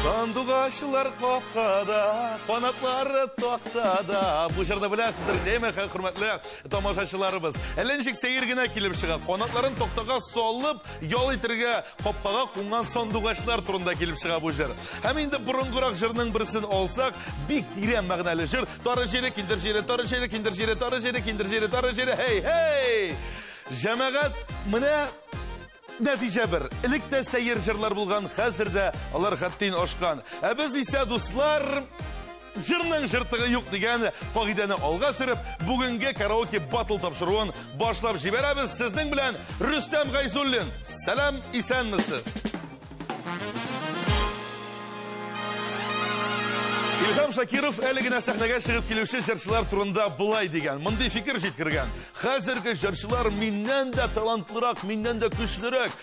Сандугачлар капкада, канатлары тактада. Бу җырны беләсездер, дәйме, хөрмәтле тамашачыларыбыз. Әллә ничек сәер генә килеп чыга. Канатларын тактага салып, ял итергә Капкага кунган сандугачлар турында килеп чыга бу җыр. Һәм инде борынгырак җырның берсен алсак, бик тирән мәгънәле җыр. Тары җире, киндер җире, тары җире, киндер җире, тары җире, киндер җире, тары җире. Хей, хей! Җәмәгать, менә нәтиҗә бер. Элек тә сәер җырлар булган, хәзер дә алар хәттин ашкан. Ә без исә, дуслар, Җырның жыртыгы юк дигән кагыйдәне алга сөреп, бүгенге караоке батл тапшыруын башлап җибәрәбез. Сезнең белән Рөстәм Гайзуллин. Сәлам, исәнмесез. Илһам Шакиров әле генә сәхнәгә чыгып килүче җырчылар турында былай дигән, мондый фикер җиткергән. Хәзерге җырчылар миннән дә талантлырак, миннән дә көчлерәк.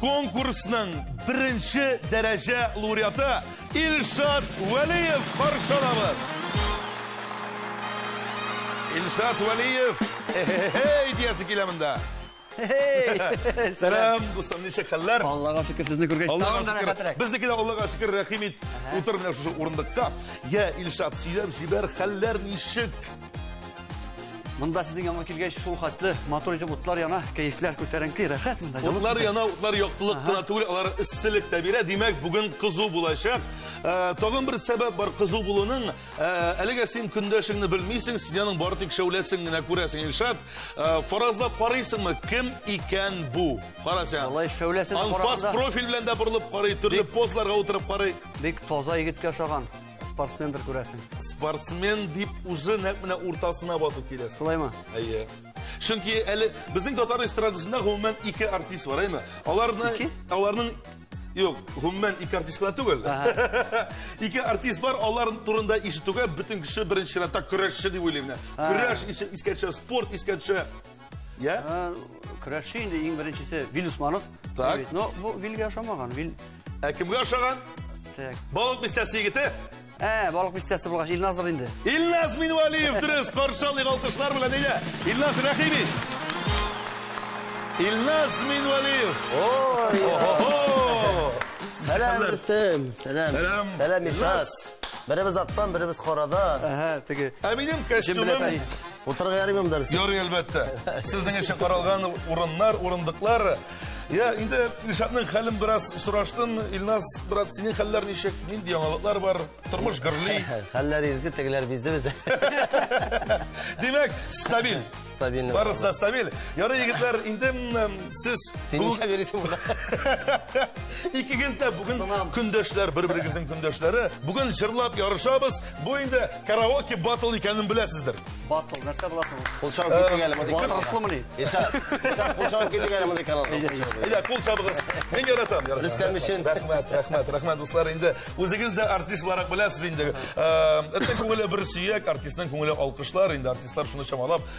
Конкурсның беренче дәрәҗә лауреаты Илшат Вәлиев каршылабыз. Илшат Вәлиев, эй, диясе килә монда. Сәлам, дустым, ничек хәлләр? Аллага шөкер, сезне күргәч, тагын да рәхәтрәк. Безнеке дә Аллага шөкер, рәхим ит. Утыр менә шушы урындыкка. Я, Илшат, сөйләп җибәр, хәлләр ничек? Монда сезнең яңа килгәч, шул хәтле матур итеп утлар яна, кәефләр күтәренке, рәхәт монда. Утлар яна, утлар яктылык кына түгел, алар эсселек тә бирә. Димәк, бүген кызу булачак. Э, тагын бер сәбәп бар кызу булуның. Э, әлегә син көндәшеңне белмисең, син аның бары тик шәүләсен генә күрәсең, Илшат. Э, фаразлап карыйсыңмы, кем икән бу? Кара син. Алай шәүләсен караганда. Анфас профиль белән дә борылып карый, төрле позларга утырып карый. Бик таза егеткә ошаган. Спортсмендер күрәсең. Спортсмен дип уже нәкъ менә уртасына басып киләсең. Шулаймы? Әйе. Чөнки әле безнең татар эстрадасында гомумән ике артист бар, әйме? Аларны Ике? аларның Юк, гомумән ике артист кына түгел. Ике артист бар, алар турында ишетүгә бөтен кеше беренче чиратта көрәшче дип уйлый менә. Көрәш искә төшә, спорт искә төшә. Я? Ә, Көрәшче инде иң беренчесе Вил Усманов. Так. Бит, Но бу Вилгә ошамаган. Вил Ә кемгә ошаган? так. Балык бистәсе егете. Ә, балык бистәсе булгач Илназыр инде. Илназ Минвалиев дөрес каршы алыйк алкышлар белән әйдә. Илназ Рәхимин. Илназ Минвалиев. Ой, Ого! сәлам Хәзер. Рөстәм, сәлам. Сәлам. Сәлам Илназ. Илшат. Беребез аттан, беребез карада. Әһә, теге Ә минем Җем белән костюмым тәни. Утырырга ярыймы монда? Ярый, әлбәттә. Сезнең өчен каралган урыннар, урындыклар. Я, инде Илшатның хәлен бераз сораштым. Илназ, брат, синең хәлләр ничек? Нинди яңалыклар бар? Тормыш гөрли. Хәлләр изге, тегеләр бизде бит. Димәк, стабиль. Стабильный. Барысы да стабиль. Ярый, егетләр, инде сез... Син ничә бересең була? Икегез дә бүген көндәшләр, бер-берегезнең көндәшләре. Бүген җырлап ярышабыз. Бу инде караоке батл икәнен беләсездер. Батл, нәрсә була соң? Кул чабып китик әле мондый. Батраслымы ни? Иша, иша, кул чабып китик әле мондый каналда. Әйдә, кул чабыгыз. Мин яратам. Рөстәм өчен. Рәхмәт, рәхмәт, рәхмәт, дуслар. Инде үзегез дә артист буларак беләсез инде. Этнең күңеле бер сөяк, артистның күңеле алкышлар. Инде артистлар шуны чамалап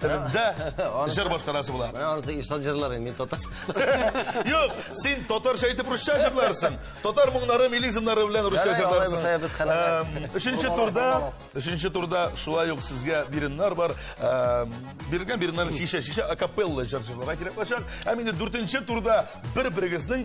Телендә җыр башкарасы була. Менә анысы Ишат җырлары, мин татарча. Юк, син татарча әйтеп русча җырларсың. Татар моңнары, милизмнары белән русча Ярый, алай җырларсың. булса, без хәләл. Эм, Өченче турда, өченче турда шулай ук сезгә биреннар бар. Эм, Бирелгән биреннар шише, шише акапелла җыр җырларга кирәк булачак. Һәм инде дүртенче турда бер-берегезнең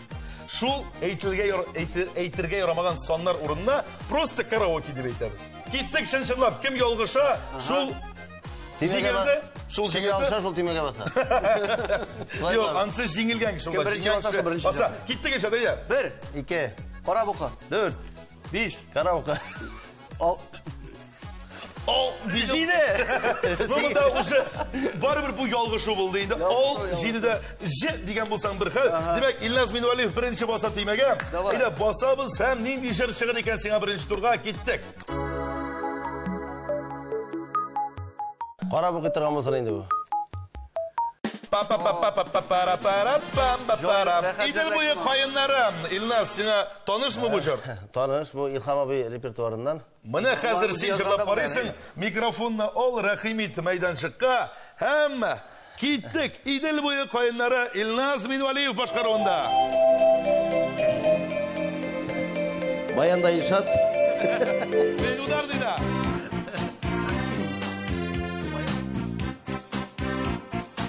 Шул әйтелгә әйтергә ярамаган саннар урынына просто караоке дип әйтәбез. Киттек чын-чынлап, кем ялгыша, шул җиңелде. Шул җиңелде. Ялгыша шул тимәгә баса. Юк, ансы җиңелгән кеше ул. Беренче баса, беренче. Баса, киттек ишә, дәйә. 1 2 Кара бука. 4 Биш, караука. Ал... Ал, биш. Җиде! Бу да уже барыбер бу ялгышу булды инде. Ал, җиде дә ж дигән булсаң бер хәл. Димәк, Ильназ Минуалиев беренче баса тимәгә. Әйдә, басабыз һәм нинди җыр чыгыр икән сиңа беренче турга киттек. Карап укый торган булсын инде бу. Идел буе каеннары. Илназ, сиңа Танышмы бу җыр? Таныш, бу Илһам абый репертуарыннан. Менә хәзер син җырлап карыйсың, микрофонны ал, рәхим ит мәйданчыкка һәм киттек Идел буе каеннары Илназ Минвалиев башкаруында. Баянда Ильшат.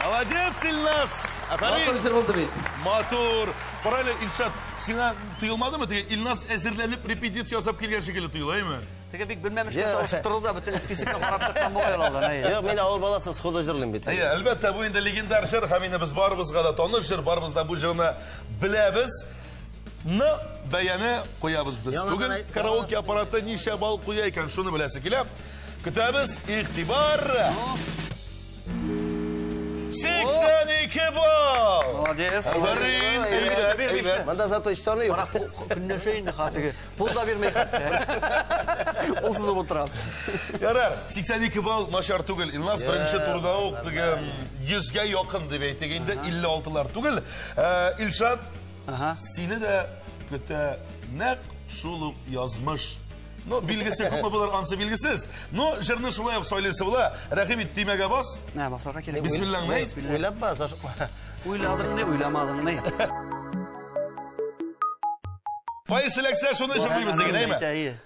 Молодец, Ильнас! Матур җыр булды бит. Матур. Бар әле, Илшат, сиңа тоелмадымы? Теге Ильнас әзерләнеп репетиция ясап килгән шикелле тоела, әйме? Теге бик белмәмешкә салышып торды да, бөтен списокны карап чыккан бугай алдан. Юк, мин авыл баласы, сходу җырлыйм бит. Әйе, әлбәттә, бу инде легендар җыр, һәм инде без барыбызга да таныш җыр, барыбыз да бу җырны беләбез. Ны бәяне куябыз без. Түгел караоке аппараты ничә балл куя икән, шуны беләсе килә. Көтәбез, игътибар. 82 балл! Молодец. Афәрин, әйбәт. Монда зато эш саны юк. Көнләшә инде хатыгы. Пул да бирмәй хәтта. Ул сузып утыра. Ярар, 82 балл начар түгел. Илназ беренче турда ук 100 гә якын дип әйтик инде, 56 лар түгел. Илшат Ага. Сине дә көтә нәк шул ук язмыш. Ну, билгесе күпме булыр, ансы билгесез. Ну, җырны шулай ук сайлыйсы була. Рәхим ит, тимәгә бас. Ә, басарга кирәк. Бисмиллаңны әйт. Уйлап бас, ашыкма. Уйладың ни, уйламадың ни. Кайсы ләксә, шуны җырлыйбыз диген, әйме?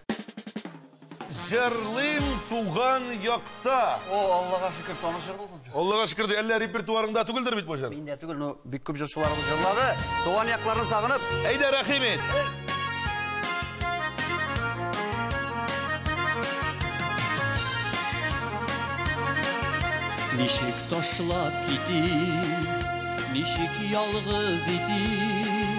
Җырлыйм туган якта. О, Аллага шөкер, таныш җыр булды. Аллага шөкер, ди, әллә репертуарыңда түгелдер бит бу җыр? Миндә түгел, но бик күп җырчыларыбыз җырлады. Туган якларны сагынып. Әйдә, рәхим ит. Ничек ташлап китим, ничек ялгыз итим?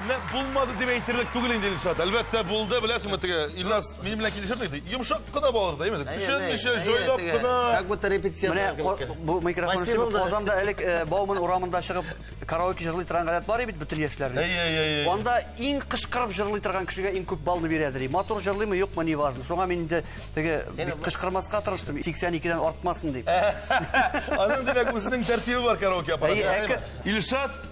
Менә булмады дип әйтерлек түгел инде, Илшат. Әлбәттә, булды. Беләсеңме, теге Илназ минем белән килешер миде? Йомшак кына балалар да, әйеме? Төшенмичә, җайлап кына. Как будто репетиция. Менә бу микрофон эшли. Казанда элек э, Бауман урамында чыгып караоке җырлый торган гадәт бар бит бөтен яшьләрнең. Әйе, әйе, әйе. Анда иң кычкырып җырлый торган кешегә иң күп баллы бирәдер. Матур җырлыймы, юкмы, не важно. Шуңа мин инде теге кычкырмаска тырыштым, 82-дән артмасын дип. Аның димәк үзенең тәртибе бар караоке аппараты. Илшат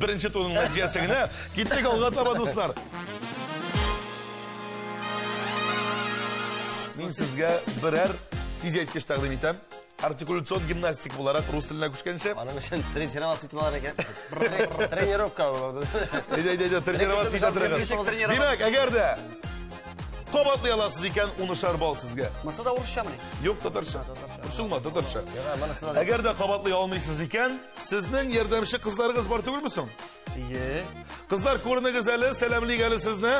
Беренче турның нәтиҗәсе генә. Киттек алга таба, дуслар. Мин сезгә берәр тизәйткеч тәкъдим итәм. Артикуляцион гимнастик буларак рус теленә күчкәнче. Аның өчен тренироваться итеп алар икән. Тренировка булды. Әйдә, әйдә, әйдә, тренироваться итә торыгыз. Димәк, әгәр дә кабатлый аласыз икән, унышар балл сезгә. Монысы да урысчамыни? Юк, татарча. Борчылма, татарча. Әгәр дә кабатлый алмыйсыз икән, Сезнең ярдәмче кызларыгыз бар түгелме соң? Ие. Кызлар, күренегез әле, сәламлик әле сезне.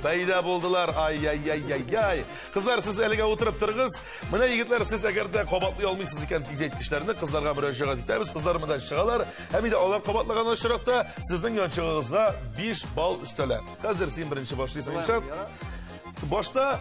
Бәйдә булдылар. Ай-яй-яй-яй-яй. Кызлар, сез әлегә утырып торыгыз. Менә егетләр, сез әгәр дә кабатлый алмыйсыз икән тизәйткечләрне, кызларга мөрәҗәгать итәбез. Кызлар монда чыгалар. Һәм инде алар кабатлаган очракта сезнең янчыгыгызга 5 балл өстәлә. Хәзер син беренче башлыйсың, Илшат. Башта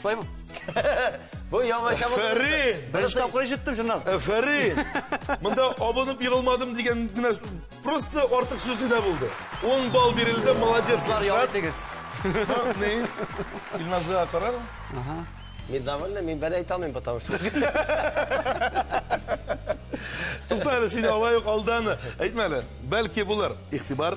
Шулаймы? Бу яңа чамы. Фәрин! Беренче тапкыр ишеттем, чыннан. Э, Фәрин! Монда абынып егылмадым дигән генә просто артык сүз генә булды. 10 балл бирелде, молодец, Илшат. Ни? Илназга кара. Ага. Мин довольна, мин бер әйтә алмыйм, потому что. Туктале, сине алайык алдан әйтмәле. Бәлки булыр. Игътибар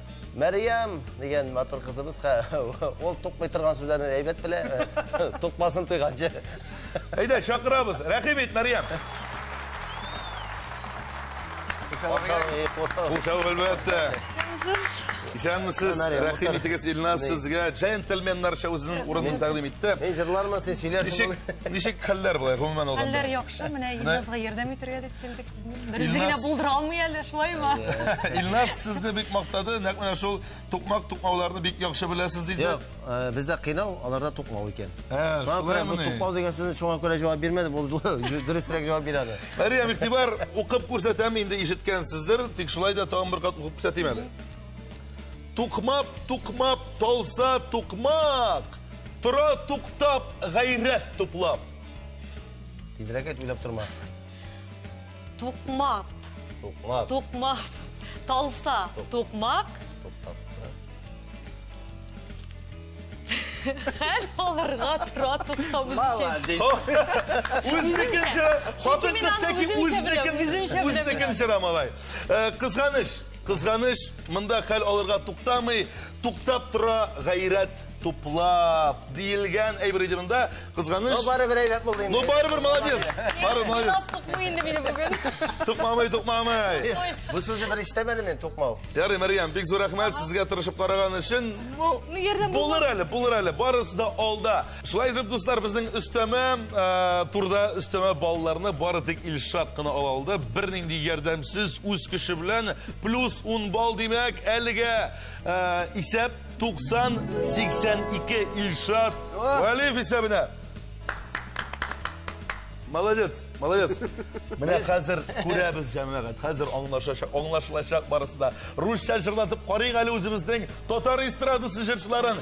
Мәриям дигән матур кызыбыз, ул тукмый торган сүзләрне әйбәт белә. Тукмасын туйганчы. Әйдә, чакырабыз. Рәхим ит, Мәриям. Кул чабып әлбәттә. Исәнмесез, рәхим итегез Илназ сезгә. Джентльменнарча үзенең урынын тәкъдим итте. Мин җырлармын, сез сөйләрсез. Ничек, ничек хәлләр болай, гомумән алганда? Хәлләр яхшы, менә Илназга ярдәм итәргә дип килдек. Берүзе генә булдыра алмый әле, шулаймы? Илназ сезне бик мактады, нәкъ менә шул тукмак тукмауларны бик яхшы беләсез диде. Юк, э, бездә кыйнау, аларда тукмау икән. Ә, шулаймыни? Тукмау дигән сүзне шуңа күрә җавап бирмәде, бу дөресрәк җавап бирә әле. Мәриям, игътибар, укып күрсәтәм, инде ишеткәнсездер, тик шулай да тагын бер кат укып күрсәтим әле. Тукмап, тукмап, талса тукмак, тора туктап, гайрәт туплап. Тизрәк әйт, уйлап торма. Тукмак. Тукмак. Тукмак. Талса. Тукмак. Хәл алырга тора туктабыз өчен. Үзенекен жыра. Хатын кыз тәки үзенекен. Үзенекен жыра малай. Э, кызганыш. Кызганыш. Монда хәл алырга туктамый. Туктап тора гайрәт. Туплап диелгән әйбер иде монда. Кызганыч. Ну барыбер әйбәт булды инде. Ну барыбер молодец. Барыбер молодец. Тукмый инде мине бүген. Тукмамый, тукмамый. Бу сүзне бер ишетәмәдем мин тукмау. Ярый, Мәрьям, бик зур рәхмәт сезгә тырышып караган өчен. Ну, ну булыр әле, булыр әле. Барысы да алда. Шулай итеп, дуслар, безнең өстәмә э, турда өстәмә балларны бары тик Илшат кына ала алды. Бернинди ярдәмсез үз кеше белән плюс 10 балл димәк, әлегә э, исәп 90-82 Ильшат Вәлиев исәбенә. Молодец, молодец. Менә хәзер күрәбез җәмәгать. Хәзер аңлашачак, аңлашылачак барысы да. Русча җырлатып карыйк әле үзебезнең татар эстрадасы җырчыларын.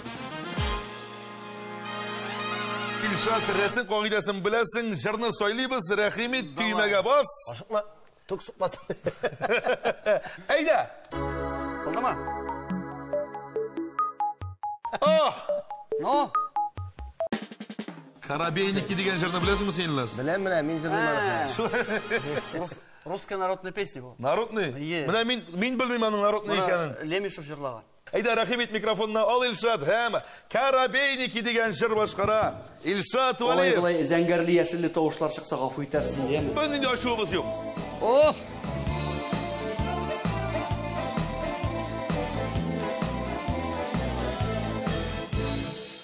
Ильшат, рәтен кагыйдәсен беләсең, җырны сайлыйбыз, рәхим ит, төймәгә бас. Ашыкма. Тук сукмасын. Әйдә! Булдымы? О! Ну? Коробейники дигән җырны беләсеңме син, Ильназ? Беләм, беләм, мин җырлыйм аны. Русская народная песня бу. Народный? Менә мин мин белмим аның народный икәнен. Лемешев җырлаган. Әйдә, рәхим ит, микрофонны ал, Илшат, һәм Коробейники дигән җыр башкара. Илшат Алай Вәлиев. болай зәңгәрле яшелле тавышлар чыкса гафу итәрсең, яме. Бернинди дә ачуыбыз юк. Ох!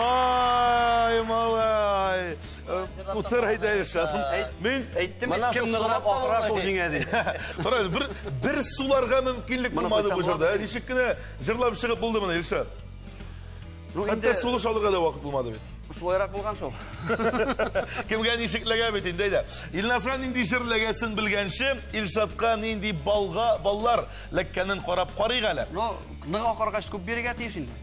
Ай, малай. Утыр әйтә Илшатым. Мин әйттем, кем ныграк акыра шул җиңә ди. Кара, бер бер суларга мөмкинлек булмады бу җырда. Ничек кенә җырлап чыгып булды моны Илшат? Ну, инде сулыш алырга да вакыт булмады бит. Шулайрак булган шул. Кемгә ничек ләгә бит инде әйдә. Илназга нинди җыр ләгәсен белгәнче, Илшатка нинди балга баллар ләккәнен карап карыйк әле. Ну, нык акыргач күп бирергә тиеш инде.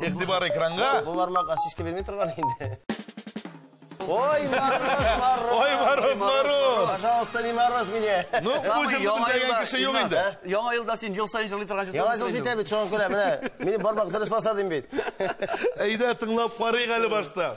Игътибар экранга. Бу бармакка шешкә бирми торган инде. Ой, мороз, мороз. Ой, мороз, мороз. Пожалуйста, не мороз меня. Ну, бу җырны белмәгән кеше юк инде. Яңа елда син ел сайын җырлый торган җыр. Яңа ел җитә бит, шуңа күрә менә. Минем бармак дөрес баса дим бит. Әйдә, тыңлап карыйк әле башта.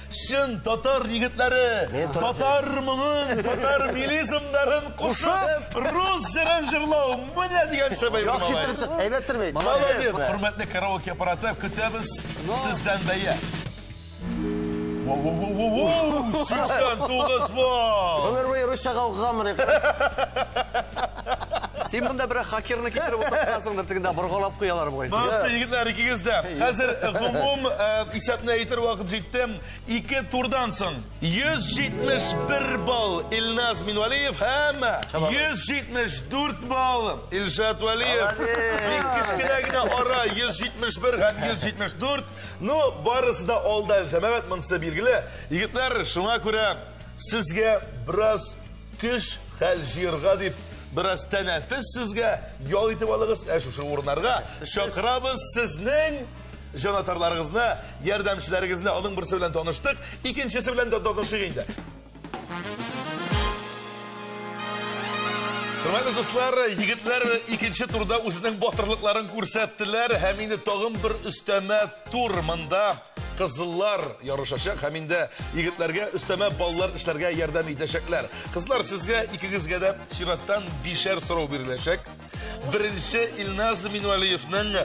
Чын татар егетләре, татар моңын, татар милизмнарын кушып, рус җырын җырлау, менә дигән шәбәй бу Яхшы малай. чык, әйбәт тормый. Молодец. Хөрмәтле караоке аппараты, көтәбез сездән бәя. Воу-воу-воу-воу! 89 балл! Гомер буе русча гауга гамыр Син монда бер хакерны китереп утыртасыңдыр, тегендә боргалап куялар бугай. Молодцы, егетләр, икегез дә. Хәзер гомум исәпне әйтер вакыт җитте. Ике турдан соң 171 балл Илназ Минвалиев һәм 174 балл Илшат Валиев. Бик кечкенә генә ара 171 һәм 174. Ну, барысы да алда, җәмәгать, монысы билгеле. Егетләр, шуңа күрә сезгә бераз Кыш хәл җыерга дип, бераз тәнәфес сезгә ял итеп алыгыз, ә шушы урыннарга чакырабыз сезнең җанатарларыгызны, ярдәмчеләрегезне. Аның берсе белән таныштык, икенчесе белән дә танышыйк инде. Хөрмәтле дуслар, егетләр икенче турда үзенең батырлыкларын күрсәттеләр һәм инде тагын бер өстәмә тур монда Кызыллар ярышачак һәм инде егетләргә өстәмә баллар эшләргә ярдәм итәчәкләр. Кызлар, сезгә икегезгә дә чираттан бишәр сорау биреләчәк. Беренче Илназ Минвалиевның э,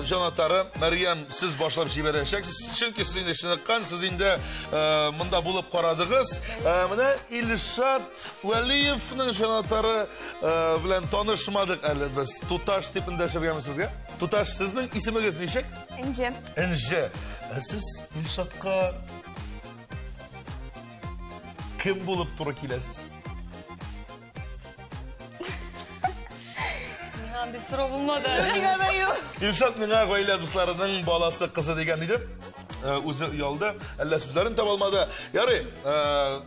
җанатары Мәриям сез башлап җибәрәчәксез. Чөнки сез инде чыныккан, сез инде э, монда булып карадыгыз. Э, менә Илшат Вәлиевның җанатары э, белән танышмадык әле без. Туташ дип эндәшергәме сезгә? Туташ, сезнең исемегез ничек? Энҗе. Энҗе. Ә сез Илшатка кем булып туры киләсез? Миңа андый сорау булмады. Миңа да юк. Илшат миңа гаилә дусларының баласы кызы дигән иде. Э, үзе оялды, әллә сүзләрен таба алмады. Ярый, э,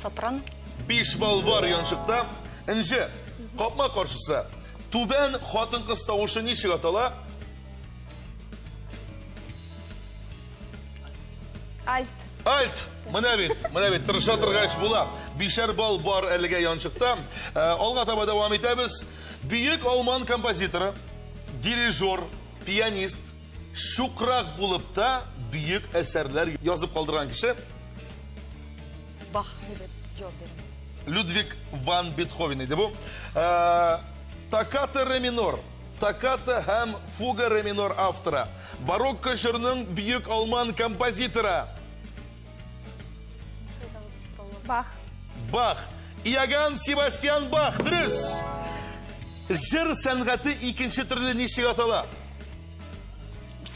Сопран. Биш бал бар янчыкта. Энҗе. Капма каршысы. Түбән хатын-кыз тавышы ничек атала? Альт. Альт! Менә бит, менә бит, тырыша торгач була. Бишәр бал бар әлегә янчыкта. Э, алга таба дәвам итәбез. Бөек алман композиторы, дирижер, пианист, Шукрак булып та бөек әсәрләр язып калдырган кеше. Бах, дип җавап бирәм. Людвиг ван Бетховен иде бу. Э, Токката ре минор, токката һәм фуга ре минор авторы, барокко җырның бөек алман композиторы. Бах. Бах. Иоганн Себастьян Бах, дөрес. Жыр сәнгате икенче төрле ничек атала?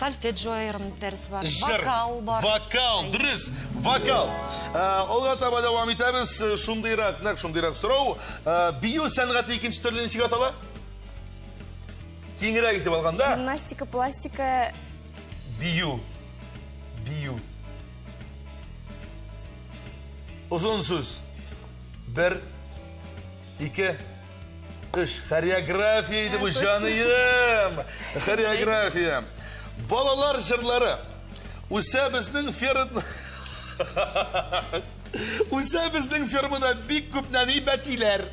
Сальфеджио айырым дәрес бар. Жыр. Вокал бар. Вокал, дөрес. Вокал. Алга э, таба дәвам итәбез. Э, шундыйрак, нәкъ шундыйрак сорау. Э, бию сәнгате икенче төрле ничек атала? Киңрәк итеп алганда. Гимнастика, пластика, Бию. Бию. Озын сүз. Бер, ике, үш. Хореография иде бу, җаныем. Хореография. Балалар җырлары. Үсә безнең ферм... Үсә безнең фермада бик күп нәни бәтиләр.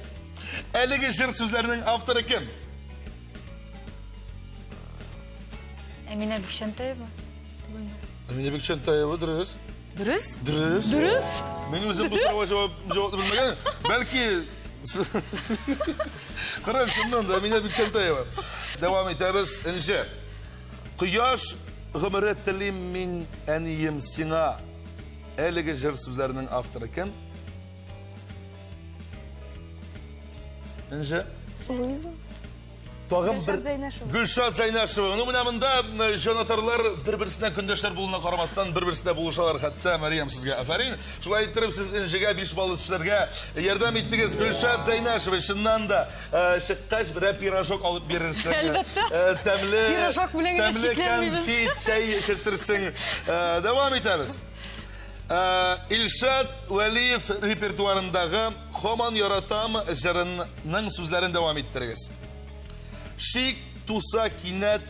Әлеге җыр сүзләренең авторы кем? Әминә Бикчәнтәева. Әминә Бикчәнтәева дөрес. Дөрес? Дөрес. Дөрес. Мин үзем бу сорауга җавап җавап белмәгән. Бәлки Кырым шуннан да Әминә Бикчәнтәева. Дәвам итәбез. Энҗе. Кояш гомере телим мин әнием сиңа. Әлеге җыр сүзләренең авторы кем? Энҗе. Луиза. Тагын бер... Гөлшат Зайнашева. Ну, менә монда җанатарлар бер-берсенә көндәшләр булуына карамастан, бер-берсенә булышалар. Хәтта Мәриям сезгә афәрин. Шулай иттереп, сез Энҗегә биш балл эшләргә ярдәм иттегез. Гөлшат Зайнашева, чыннан да, э, чыккач, берәр пирожок алып бирерсең. Әлбәттә. Э, тәмле... Пирожок белән генә шикләнмибез. Тәмле конфет, чәй эчертерсең. Э, дәвам итәбез. Илшат Вәлиев репертуарындагы Хаман яратам җырының сүзләрен дәвам иттерегез. Шик туса кинәт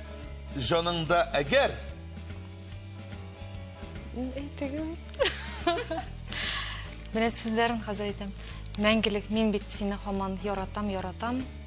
җаныңда әгәр. Менә сүзләрен хәзер әйтәм. Мәңгелек мин бит сине хаман яратам, яратам.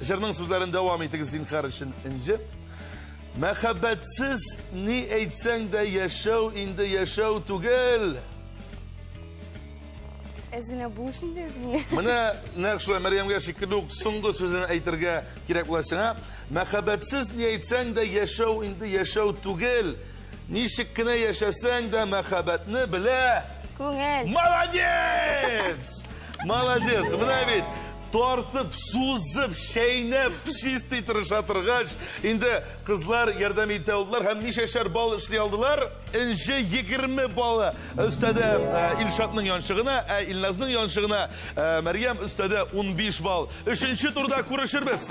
Җырның сүзләрен дәвам итегез зинхар өчен инде. Мәхәббәтсез ни әйтсәң дә яшәү инде яшәү түгел. Әзгенә булыш инде әзгенә. Менә нәкъ шулай Мәрьямгә шикелле үк соңгы сүзен әйтергә кирәк була сиңа. Мәхәббәтсез ни әйтсәң дә яшәү инде яшәү түгел. Ничек кенә яшәсәң дә мәхәббәтне белә. Күңел. Молодец! Молодец! Менә бит. тартып, сузып, чәйнәп, чистый тырыша торгач, инде кызлар ярдәм итә алдылар һәм ничәшәр бал эшли алдылар? Энҗе 20 балы өстәде э, Илшатның янчыгына, ә Илназның янчыгына э, Мәрьям өстәде 15 бал. Өченче турда күрешербез.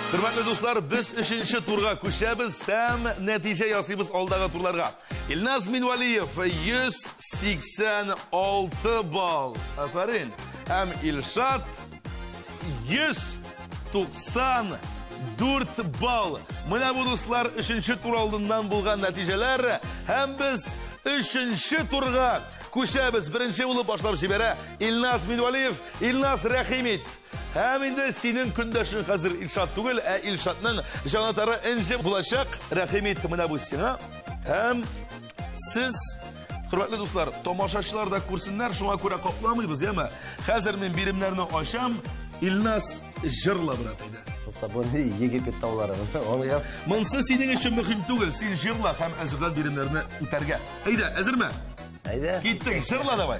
Хөрмәтле дуслар, без өченче турга күчәбез һәм нәтиҗә ясыйбыз алдагы турларга. Илназ Минвалиев 186 балл. Афәрин. Һәм Илшат 194 балл. Менә бу дуслар өченче тур алдыннан булган нәтиҗәләр һәм без өченче турга күчәбез. Беренче булып башлап җибәрә Илназ Минвалиев, Илназ Рәхимит. Һәм инде синең көндәшең хәзер Илшат түгел, ә Илшатның җанатары Энҗе булачак. Рәхим ит, менә бу сиңа. Һәм сез Хөрмәтле дуслар, тамашачылар да күрсеннәр, шуңа күрә капламыйбыз, яме. Хәзер мин биремнәрне ачам. Илнас җырла брат иде. Тукта, бу ни Египет таулары? Аңлыйм. Монсы синең өчен мөһим түгел. Син җырла һәм әзерлән биремнәрне үтәргә. Әйдә, әзерме? Әйдә. Киттек, җырла давай.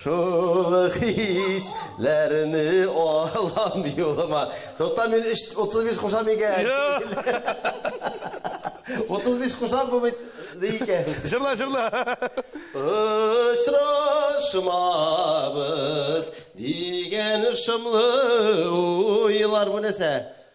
Шул хис ләрне алам юлыма. Тукта мин 35 кушам икән. 35 кушам бу бит икән. Җырла, җырла. Очрашмабыз дигән шомлы уйлар бу нәрсә?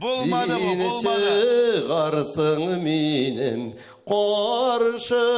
Булмады бу, булмады. Син чыгарсың минем каршыма.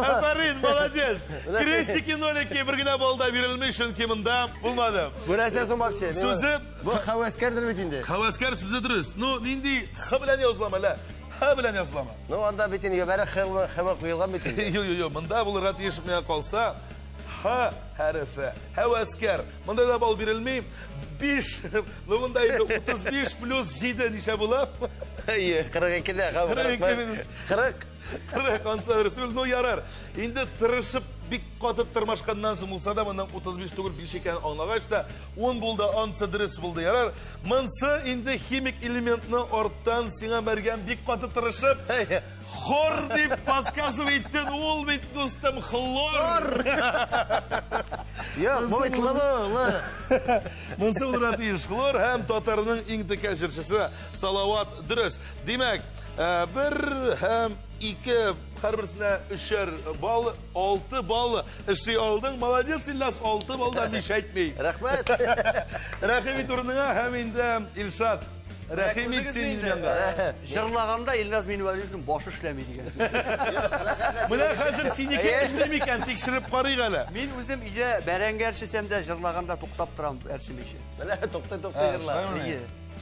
Афарин, молодец. Крестики, нолики бер генә балл да бирелми, чөнки монда булмады. Бу нәрсә соң вообще? Сүзе Бу хәвәскәрдер бит инде. Хәвәскәр сүзе дөрес. Ну, нинди х белән язылам әле? Х белән язылама. Ну, анда бит инде гөбәре х белән х куелган бит инде. Йо, йо, йо, монда булырга тиеш менә калса. Х хәрефе. Хәвәскәр. Монда да бал бирелми. 5. Ну, монда инде 35 плюс 7 ничә була? Әйе, 42 дә х. 42 минус 40. Тыры кансадыр, сүл, ну ярар. Инде тырышып, бик каты тырмашканнан соң булса да, моннан 35 түгел 5 икән аңлагач та, 10 булды, ансы дөрес булды, ярар. Монсы инде химик элементны арттан сиңа мәргән бик каты тырышып, хор дип подсказывать иттен, ул бит дустым хлор. Як, бай тлабы, Монсы булырга тиеш хлор һәм татарның иң текә җырчысы Салават дөрес. Димәк, Э, бер һәм ике, һәрберсенә өчәр бал, алты бал эшли алдың. Молодец, Ильнас, алты балда биш әйтми. Рәхмәт. Рәхим ит урыныңа һәм инде Илшат. Рәхим ит син Ильназга. Җырлаганда Ильназ Минвәлиевнең башы эшләми дигән. Менә хәзер синеке эшли микән, тикшереп карыйк әле. Мин үзем өйдә бәрәңге әрчесәм дә җырлаганда туктап торам әрчемичә. Менә тукты тукты җырла.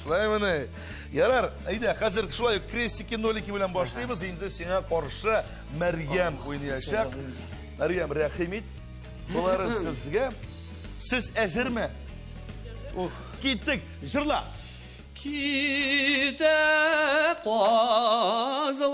Шулай менә. Ярар, әйдә, хәзер шулай крестики, нолики белән башлыйбыз. Инде сиңа каршы Мәрьям уйнаячак. Мәрьям, рәхим ит. Болары сезгә. Сез әзерме? Ух, киттек. Җырла. Китә казлар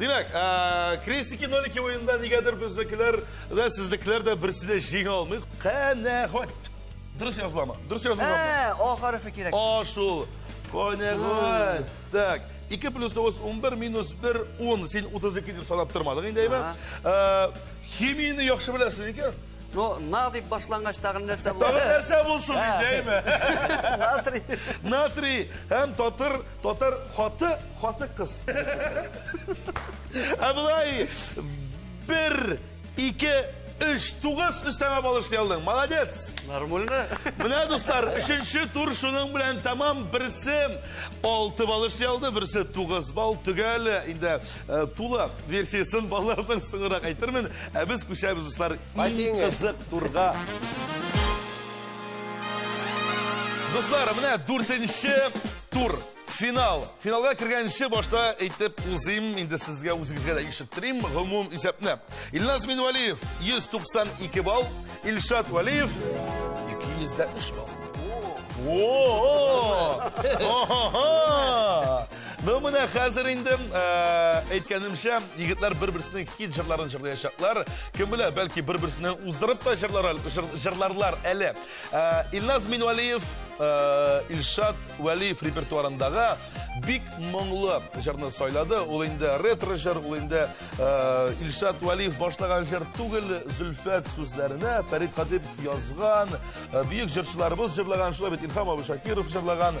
Димәк, ә, крестики нолики уенында нигәдер безнекеләр дә, сезнекеләр дә берсе дә җиңә алмый. Канәгать. Дөрес языламы? Дөрес язылмы? Ә, о хәрефе кирәк. А шул. Канәгать. Так. 2 плюс 9, 11, минус 1, 10. Син 32 дип санап тормадың инде, әйме? Ә, химияне яхшы беләсең икән. Ну, на дип башлангач тагын нәрсә булды? Тагын нәрсә булсын инде, әйме? Натрий. Натрий һәм татыр Татар хаты, хаты кыз. Ә болай бер, ике, өч, тугыз өстәмә бал эшли алдың. Молодец! Нормально. Менә, дуслар, өченче тур шуның белән тәмам. Берсе алты бал эшли алды, берсе тугыз бал. Төгәл инде э, тулы версиясын балаларның соңрак әйтермен. Ә без күчәбез, дуслар, иң кызык турга. Дуслар, менә дүртенче Тур, финал. Финалга кергәнче башта әйтеп узыйм, инде сезгә үзегезгә дә ишеттерим гомум исәпне. Илназ Минвалиев 192 балл, Илшат Валиев 203 балл. Ну менә хәзер инде әйткәнемчә, егетләр бер-берсенең хит җырларын җырлаячаклар. Кем белә, бәлки бер-берсенә уздырып та җырларлар әле. Илназ Минвалиев, Илшат Вәлиев репертуарындагы бик моңлы җырны сайлады. Ул инде ретро җыр, ул инде Илшат Вәлиев башлаган җыр түгел, Зөлфәт сүзләренә Фәрит Хатип язган, бөек җырчыларыбыз җырлаган, шулай бит Илһам Абушакиров җырлаган.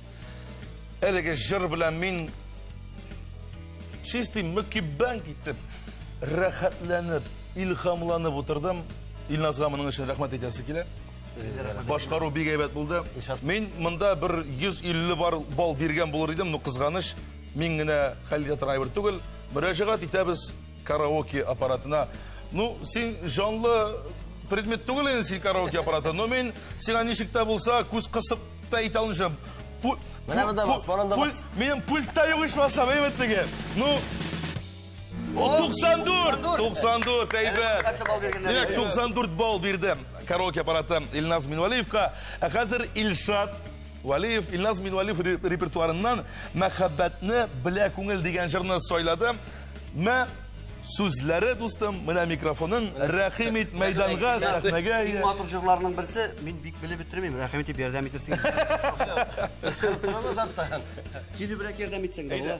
Әлеге җыр белән мин чисти мөкиббән киттем. Рәхәтләнеп, илхамланып утырдым. Илназга моның өчен рәхмәт әйтәсе килә. Башкару бик әйбәт булды. Мин монда бер 150 бар бал биргән булыр идем, но кызганыч, мин генә хәл итә торган әйбер түгел. Мөрәҗәгать итәбез караоке аппаратына. Ну, син җанлы предмет түгел инде син караоке аппараты, но мин сиңа ничек тә булса күз кысып та әйтә алмыйча. Менә монда бас, монда бас. Минем пультта юк ичмасам, әйбәтлеге. Ну, О, 94! 94, әйбәт. Димәк, 94 балл бирде караоке аппараты Илназ Минвалиевка. Ә хәзер Илшат Валиев Илназ Минвалиев репертуарыннан мәхәббәтне белә күңел дигән җырны сайлады. Мә сүзләре дустым, менә микрофоның рәхим ит мәйданга, сәхнәгә. Иң матур җырларның берсе, мин бик белеп бетермим, рәхим итеп ярдәм итәсең. Килүбрәк ярдәм итсәң дә була.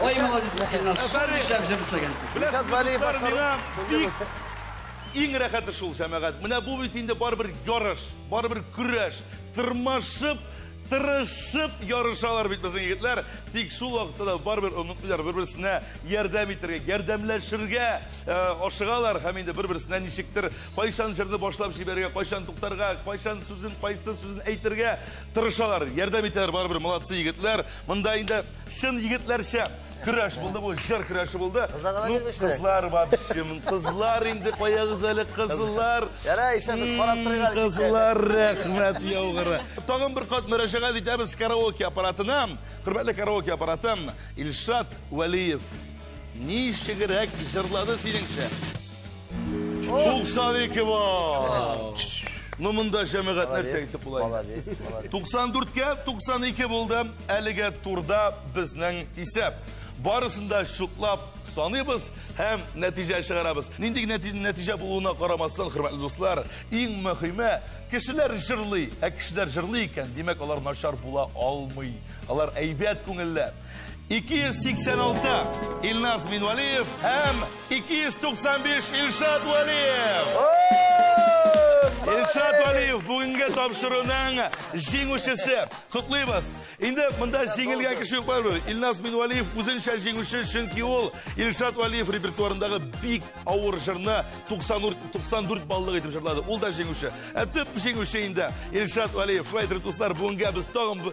Ой, молодец, Илназ, шундый шәп җыр эшләгәнсең. Илшат Вәлиев башкару. Иң рәхәте шул, җәмәгать. Менә бу бит инде барыбер ярыш, барыбер көрәш. Тырмашып, тырышып ярышалар бит безнең егетләр. Тик шул вакытта да барыбер онытмыйлар бер-берсенә ярдәм итәргә, ярдәмләшергә э, ашыгалар һәм инде бер-берсенә ничектер кайчан җырны башлап җибәрергә, кайчан туктарга, кайчан сүзен, кайсы сүзен әйтергә тырышалар, ярдәм итәләр барыбер, молодцы егетләр. Монда инде Чын егетләрчә көрәш булды бу, җыр көрәше булды. Кызларга да Ну, бирмешли. кызлар вообще, м, кызлар инде каягыз әле, кызлар. Ярай, исә без карап торыйк әле, Кызлар, рәхмәт яугыры. Тагын бер кат мөрәҗәгать итәбез караоке аппаратына. Хөрмәтле караоке аппараты Илшат Вәлиев. Ничегрәк җырлады синеңчә? 92 балл. Ну монда җәмәгать нәрсә әйтеп була инде. Молодец, молодец. 94 кә 92 булды. Әлегә турда безнең исәп. Барысын да чутлап саныйбыз һәм нәтиҗә чыгарабыз. Нинди генә нәти- нәтиҗә булуына карамастан, хөрмәтле дуслар, иң мөһиме, кешеләр җырлый. Ә кешеләр җырлый икән, димәк, алар начар була алмый. Алар әйбәт күңелле. 286 Илназ Минвалиев һәм 295 Илшат Валиев. Илшат Валиев бүгенге тапшыруның җиңүчесе. Котлыйбыз. Инде монда җиңелгән кеше юк бар Илназ Минвалиев үзенчә җиңүче, чөнки ул Илшат Валиев репертуарындагы бик авыр җырны 94 баллык итеп җырлады. Ул да җиңүче. Ә төп җиңүче инде Илшат Валиев. Шулай итеп, дуслар, бүгенгә без тагын